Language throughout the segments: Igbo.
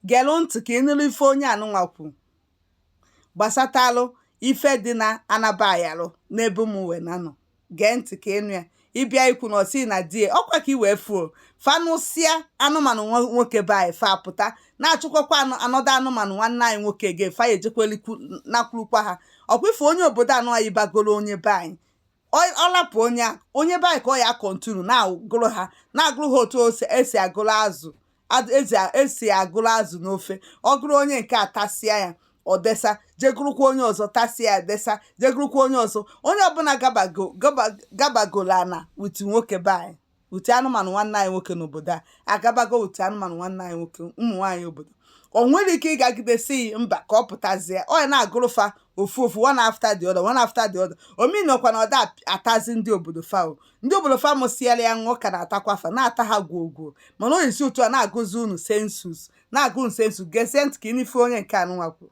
Gere ntị ka ị nụrụ ife onye anụnwa kwu gbasatalụ ife dị na anaba ayalụ n'ebe mụ wee na-anọ gee ntị ka ị nụ ya ị bịa ikwu na ọ sị na di e ọkwa ka i wee fụ o fa nụsịa anụmanụ nwo- nwoke be anyị fa apụta na-achụkwakwa anụ anọdụ anụmanụ nwanne anyị nwoke ga fa ya ejekwelikwu nakwurukwa ha ọkwa ife onye obodo anụnwa bagoro onye be anyị ọ lapụ onye a onye be anyị ka ọ ya continue na-agụrụ ha na-agụrụ ha otu ose esi agụrụ azụ ad- ezi a- esi agụrụ azụ n'ofe ọ gụrụ onye nke a tasịa ya ọ desa je gụrụkwa onye ọzọ tasịa ya desa je gụrụkwa onye ọzọ onye ọbụla gabago gaba- gabagoro ana with nwoke be anyị with anụmanụ nwanne anyị nwoke n'obodo a agabago with anụmanụ nwanne anyị nwoke ụmụ nwaanyị obodo o nwere ike ịgagide si yi mba ka ọ pụtazie ọ ya na-agụrụ fa ofu ofu one after the other one after the other ọ meanọkwa na ọ da atazi ndị obodo fa o ndị obodo fa mụsiara ya ṅụọ ka na-atakwa fa na-ata ha gwuo gwuo mana ọ ya esi otu a na-agụzi unu census na-agụ unu census gezie ntị ka ị nụ ife onye nke anụnwa kwuru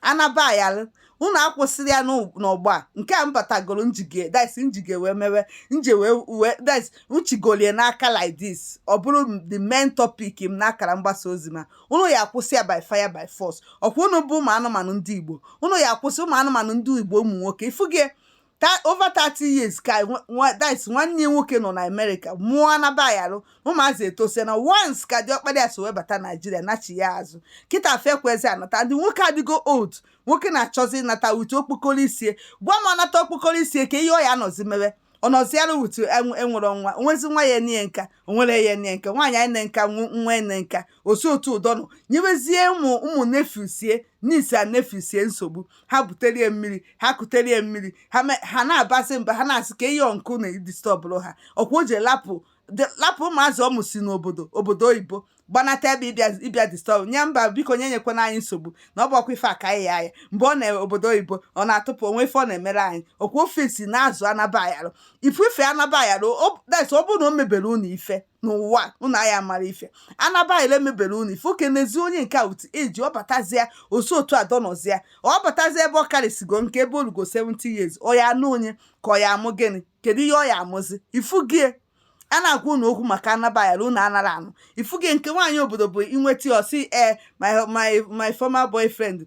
anaba ayarụ unu akwụsịrị ya n'ụ- n'ọgbọ a nke a m batagoro m jige this m jige wee mewe nje wee wee this m chigolie n'aka like this ọ bụrụ m the main topic m n'akara mgbasa ozi ma unu ya akwụsị ya by fire by force ọkwa unu bụ ụmụ anụmanụ ndị igbo unu ya akwụsị ụmụ anụmanụ ndị igbo ụmụ nwoke ị fụgo ye ta over 30 years ka nwa- nwa- that is nwanne ya nwoke nọ na America mụọ anaba ayarụ ụmụazị etosie na once ka diọkpara ya so wee bata Nigeria nachi ya azụ kịta fa ekwezi anata ndị nwoke adịgo old nwoke na-achọzi ịnata with okpokoro isi e gwa m ọ nata okpokoro isi e ke ihe ọ ya anọzi mewe ọ nọzi ya with enwere nwa o nwezi nwa ya ene nka o nwere ya ene nka nwaanyị ya ene nka nwa nwa ene nka o si otu a dọ nọ nyewezie ụmụ ụmụ nephews e niece a nephews e nsogbu ha butere e mmiri ha kutere e mmiri ha me- ha na-abasị mba ha na-asị ke ihe uncle na-edisturbụrụ ha ọkwa o ji lapụ de- lapụ ụmụazị ọ mụsi n'obodo obodo oyibo gbanata ebe ịbịa ịbịa disturb anyị mba biko nye nyekwana anyị nsogbu na ọ bụ ọkwa ife aka anyị ya anya mgbe ọ nọ obodo oyibo ọ na-atụpụ o nwe ife ọ na-emere anyị ọkwa ofesi na-azụ anaba ayarụ ị fụ ife anaba ayarụ ọ- that's ọ bụrụ na o mebere unu ife n'ụwa unu aya mara ife anaba ayarụ mebere unu ife oke n'ezi onye nke a with age ọ batazịa o si otu a dọ nọzịa ọ batazịa ebe ọ karịsịgo nka ebe o lugo 70 years ọ ya anụ onye ka ọ ya amụ gịnị kedu ihe ọ ya amụzi ị fụgo ye a na-agwa unu okwu maka anaba ayarụ unu anara anụ ị fụgo ye nke nwaanyị obodo bụ ị nweta ya ọ sị ee my my my former boyfriend